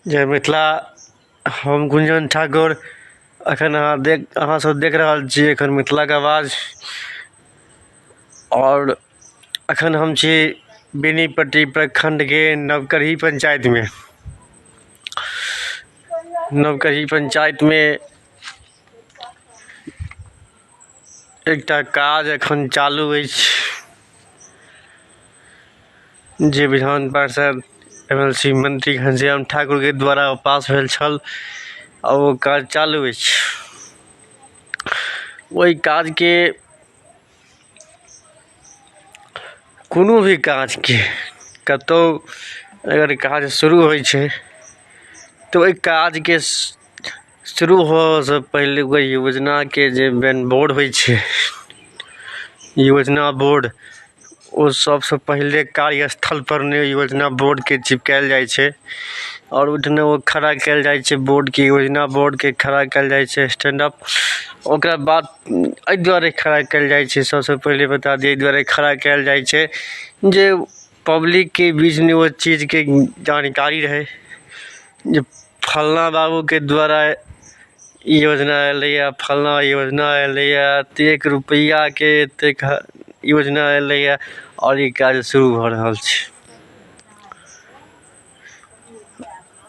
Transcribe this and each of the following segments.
जय मिथिला हम गुंजन ठाकुर अखन अहाँ देख अहाँ सब देख रहल छी अखन मिथिला के आवाज और अखन हम छी बेनीपट्टी प्रखंड के नवकरही पंचायत में नवकरही पंचायत में एकटा काज एखन चालू अछि जे विधान पार्षद एम एल सी मंत्री घनश्याम ठाकुर के द्वारा पास भेल छल आ ओ काज चालू अछि ओहि काजके कोनो भी काजके कतौ अगर काज शुरू होइ छै तऽ ओहि काजके शुरू होबयसँ पहिले ओहि योजनाके जे मेन बोर्ड होइ छै योजना बोर्ड ओ सभसँ पहिले कार्य स्थलपर ने योजना बोर्डकेँ चिपकायल जाइ छै आओर ओहिठिना ओ खड़ा कयल जाइ छै बोर्डकेँ योजना बोर्डकेँ खड़ा कयल जाइ छै स्टैंड अप ओकरा बाद एहि दुआरे खड़ा कयल जाइ छै सभसँ पहिले बता दी एहि दुआरे खड़ा कयल जाइ छै जे पब्लिकके बीचमे ओ चीजके जानकारी रहय जे फलना बाबूके द्वारा ई योजना एलैए फलना योजना एलैए एतेक रुपैआके एतेक योजना एलैए आओर ई काज शुरू भऽ रहल छै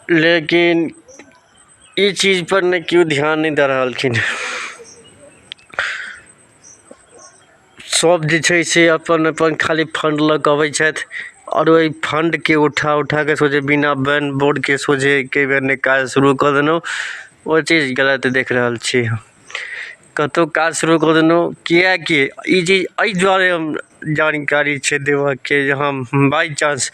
लेकिन ई चीजपर नहि केओ ध्यान नहि दऽ रहलखिन सब जे छै से अपन अपन खाली फण्ड लऽ कऽ अबै छथि आओर ओहि फण्डके उठा उठाके सोझे बिना बैन बोर्डके सोझे एके बेर नहि काज शुरू कऽ देलहुॅं ओ चीज गलत देख रहल छी हम कतौ काज शुरू कऽ देलहुॅं किएकि ई चीज एहि दुआरे हम जानकारी छै देबऽके जे हम बाइ चान्स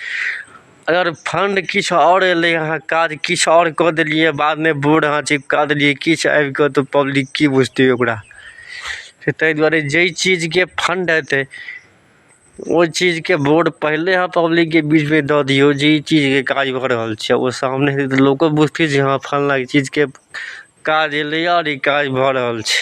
अगर फण्ड किछु आओर अयलै अहाँ काज किछु आओर कऽ देलियै बादमे बोर्ड अहाँ चिपका देलियै किछु आबि कऽ तऽ पब्लिक की बुझतै ओकरा से ताहि दुआरे जाहि चीजके फण्ड हेतै ओहि चीजके बोर्ड पहिले अहाँ पब्लिकके बीचमे दऽ दियौ जे ई चीजके काज भऽ रहल छै ओ सामने हेतै तऽ लोको बुझतै जे हँ फल्लाँ चीजके काज अयलै आओर ई काज भऽ रहल छै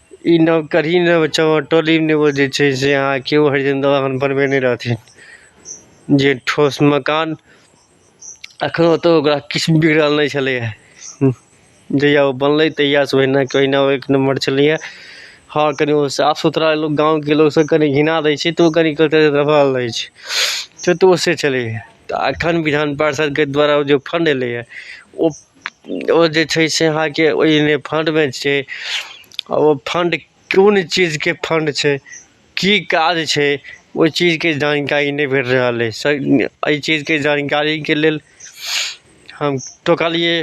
ई नव कढ़ी नव चाउर टोली नेबो जे छै से अहाँ केओ हरिजन दवा अखन बनबै नहि रहथिन जे ठोस मकान अखनो तऽ ओकरा किछु बिगड़ल नहि छलैए जहिया ओ बनलै तहिया से ओहिना के ओहिना एक नम्बर छलैए हँ कनि ओ साफ सुथरा लोग गाँवके लोग सब कनि घिना दै छै तऽ ओ कनि कतौ दबल रहै छै तऽ तऽ ओ से छलैए तऽ अखन विधान पार्षदके द्वारा ओ जे फण्ड एलैए ओ ओ जे छै से अहाँके ओहिमे फण्डमे छै आ ओ फण्ड कोन चीजके फण्ड छै की काज छै ओहि चीजके जानकारी नहि भेट रहल अछि एहि चीजके जानकारीके लेल हम तकलियै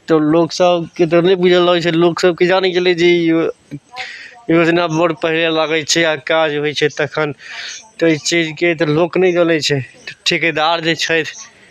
तऽ लोक सबके तऽ नहि बुझल रहै छै लोक सब की जानै गेलै जे ई योजना बड़ पहिले लागै छै आ काज होइ छै तखन तऽ एहि चीजके तऽ लोक नहि जनै छै ठिकेदार जे छथि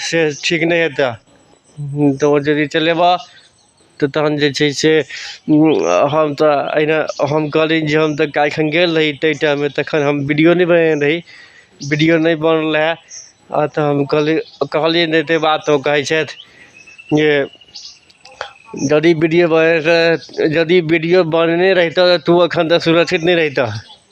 से ठीक नहि हेतै तऽ ओ यदि चलेबह तऽ तहन जे छै से हम तऽ एहिना हम कहली जे हम तऽ एखन गेल रही ताहि टाइममे तखन हम वीडिओ नहि बनेने रही वीडिओ नहि बनल रहै आओर तऽ हम कहली कहलिए नहि ताहि बात ओ कहै छथि जे यदि वीडिओ बनेने रहितै यदि वीडिओ बनेने रहितै तऽ तोँ एखन तक सुरक्षित नहि रहितै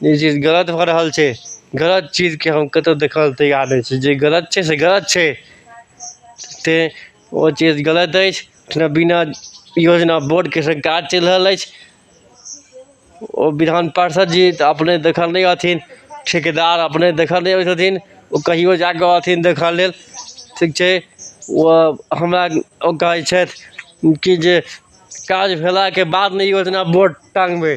ई चीज गलत भऽ रहल छै गलत चीजके हम कतहु देखय लेल तैयार नहि छी जे गलत छै से गलत छै तैँ ओ चीज गलत अछि जेना बिना योजना बोर्डके से काज चलि रहल अछि ओ विधान पार्षद जी तऽ अपने देखल नहि रहथिन ठेकेदार अपने देखय नहि अबै छथिन ओ कहिओ जा कऽ रहथिन देखय लेल ठीक छै ओ हमरा ओ कहै छथि कि जे काज भेलाके बाद ने योजना बोर्ड टाङ्गबै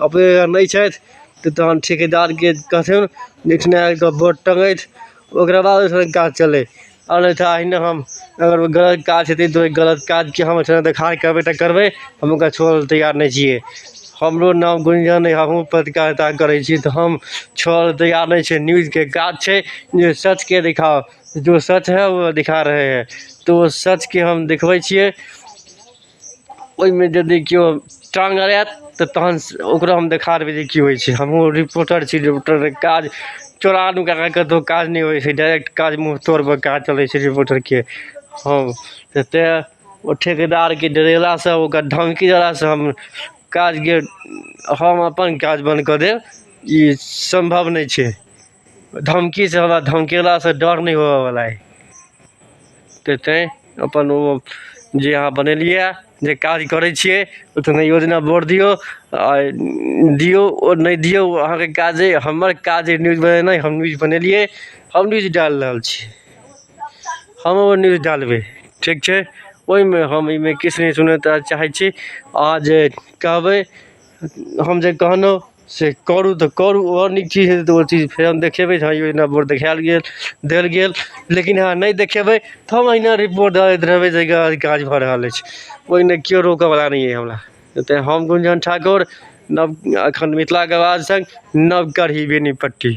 अपने अगर नहि छथि तऽ तहन ठिकेदारके कहथिन जे एहिठिना आबि कऽ बोर्ड टङ्गथि ओकरा बाद ओहिठिना काज चलय आ नहि तऽ एहिना हम अगर गलत काज हेतै तऽ ओहि गलत काजके हम ओहिठिना देखार करबै तऽ करबै हम ओकरा छोड़य लेल तैयार नहि छियै हमरो नाम गुंजन अइ हमहूँ पत्रकारिता करै छी तऽ हम छोड़य लेल तैयार नहि छियै न्यूजके काज छै जे सचकेँ देखाउ जो सच है वो दिखा रहे हैं तो सचकेँ हम देखबै छियै ओहिमे यदि केओ टाँग अड़ाएत तऽ तहन ओकरो हम देखा देबै जे की होइ छै हमहूँ रिपोर्टर छी रिपोर्टरके काज चोरा नुका कऽ कतहु काज नहि होइ छै डायरेक्ट काज मुँह तोड़पर काज चलै छै रिपोर्टरके हँ तऽ तैँ ओ ठेकेदारके डरेलासँ ओकर धमकी देलासँ हम काजके हम अपन काज बन्द कऽ देब ई सम्भव नहि छै धमकी से हमरा धमकेला से डर नहि होवे वाला है ते ते अपन ओ जे अहाँ बनेलियै जे काज करै छियै ओहिमे योजना बोर्ड दियौ आ दियौ ओ नहि दियौ अहाँके काज अइ हमर काज अइ न्यूज बनेनाइ हम न्यूज बनेलियै हम न्यूज डालि रहल छी हम ओ न्यूज डालबै ठीक छै ओहिमे हम एहिमे किछु नहि सुनय तऽ चाहै छी अहाँ जे कहबै हम जे कहलहुँ से करू तऽ करू आओर नीक चीज हेतै तऽ ओ चीज फेर हम देखेबै जे हँ यौ एना वोट देखायल गेल देल गेल लेकिन अहाँ नहि देखेबै तऽ हम अहिना रिपोर्ट दऽ दैत रहबै जे एकर ई काज भऽ रहल अछि ओहिमे केओ रोकयवला नहि अइ हमरा एतय हम गुंजन ठाकुर नव एखन मिथिलाके आवाज सङ्ग नवगढ़ी बेनीपट्टी